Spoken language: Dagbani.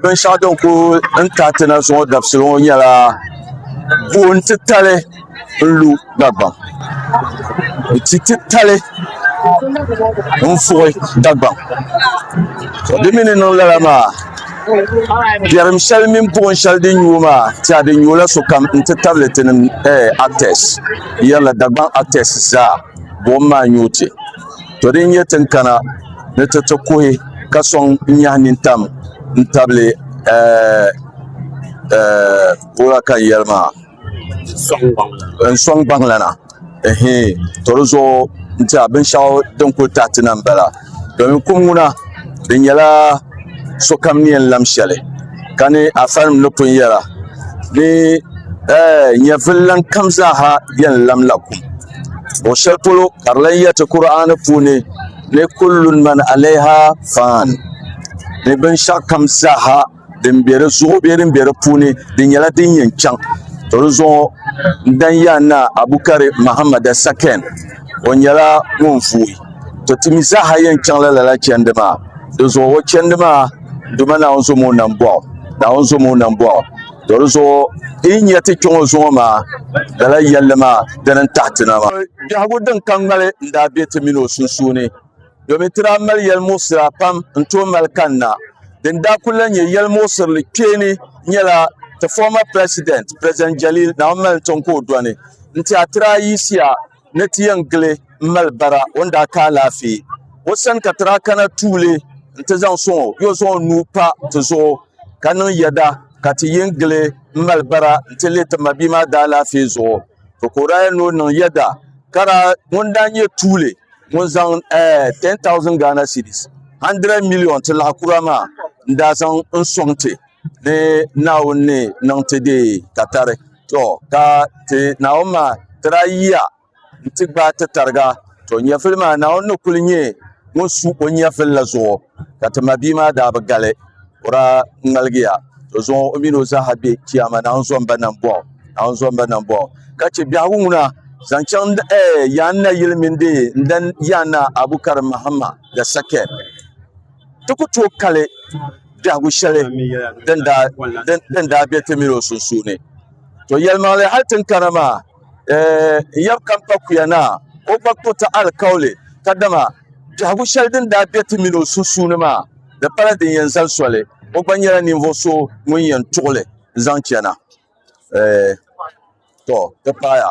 Binshaɣu din ku ka ti na zuŋɔ dabisili ŋɔ nyɛla gooni titali n lu Dagbaŋ ni ti titali n fui Dagbaŋ di mii ni niŋ lala maa biɛrim shɛli mini buɣum shɛli din nyu o maa tɛha di nyurila sokam n ti tabili ti actɛs n yɛrila Dagbaŋ actɛs zaa buɣum maa n nyu ti To din nyɛ tin kana ni ti ti kuhi ka sɔŋ n-nyahi nintam n-tabili eh, eh, wula ka n yɛli maa n-sɔŋ gbaŋlana ehe to di zuɣu nti a binshɛɣu din kuli tahi ti na m-bala domin kum ŋuna di nyɛla sokam ni yɛn lam shɛli ka ni afanim ni pun yɛra ni eh, nyɛvili lan kam zaaha yɛn lamla kum Luɣ shɛli polo ka di lahi yɛriti Kur'aani puuni ni kulli man alayiha fan ni binshɛɣu kam zaa din be di zuɣu bee din be di puuni di nyɛla din yɛn chaŋ ka di zuɣu n dani yɛli naa Abukari Mahamada sakɛn o nyɛla ŋun vuui ka ti mi zaa yɛn chaŋla lala chɛndi maa di zuɣu o chɛndi maa dama Naawuni zaŋm o nam bɔɣu to di zuɣu ti yi nya ti kpe ŋɔ zuŋɔ maa lala yɛlli maa dini n-taɣi ti na maa. Biɛhigu din ka ŋmali n-daa be ti mini o sunsuuni domin ti daa mali yɛlimuɣisira pam n-tooi mali kanna. Din daa kul lan nyɛ yɛlimuɣisirili kpeeni nyɛla ti former president, President Jalil Naawuni mali n-tiŋ ka o dɔni n-ti a ti daa yiɣisiya ni ti yɛn gili m-mali bara o ni daa ka alaafee o sani ka ti daa kana tuuli nti zaŋ sɔŋ o yo zaŋ o nuu pa ti zuɣu ka niŋ yɛda ka ti yɛn gili m-mali bara nti li ti mabia maa daalaafee zuɣu ka o daa yɛli ni o niŋ yɛda ka daa ŋun daa nyɛ tuuli ŋun zaŋ ɛɛh 10,000 Ghana cedis, N$100 miliyon, Ti Laɣikura maa n-daa zaŋ n-sɔŋ ti. ni naawuni ni niŋ ti dee ka tari to ka naawuni maa tila yiya n ti gbaai ti tariga to nyɛvili maa naawuni ni kuli nyɛ ŋun su o nyɛvili la zuɣu ka ti mabia maa daa bi gali o daa ŋmaligiya ka zaŋ o mini o zaaha bɛ chiyaama naawuni zomba nam buɣu naawuni zomba nam buɣu ka chɛ biɛhigu ŋuna zaŋ chaŋ Yaan Naayili mini dee n dani Yaan Naa Abu Karim Mahama the second ti ku tooi kali biɛhigu shɛli din daa be ti mini o sunsuuni. To yɛlimaŋli hal tin kana maa, eeh, n yab kam pa kuya naa, o gba kpuɣ ti alikauli, kadama biɛhigu shɛli din daa be ti mini o sunsuuni maa, di pala din yɛn zali soli, o gba nyɛla ninvuɣ so ŋun yɛn tuɣ li zaŋ chana. Eeh, to ti paaya.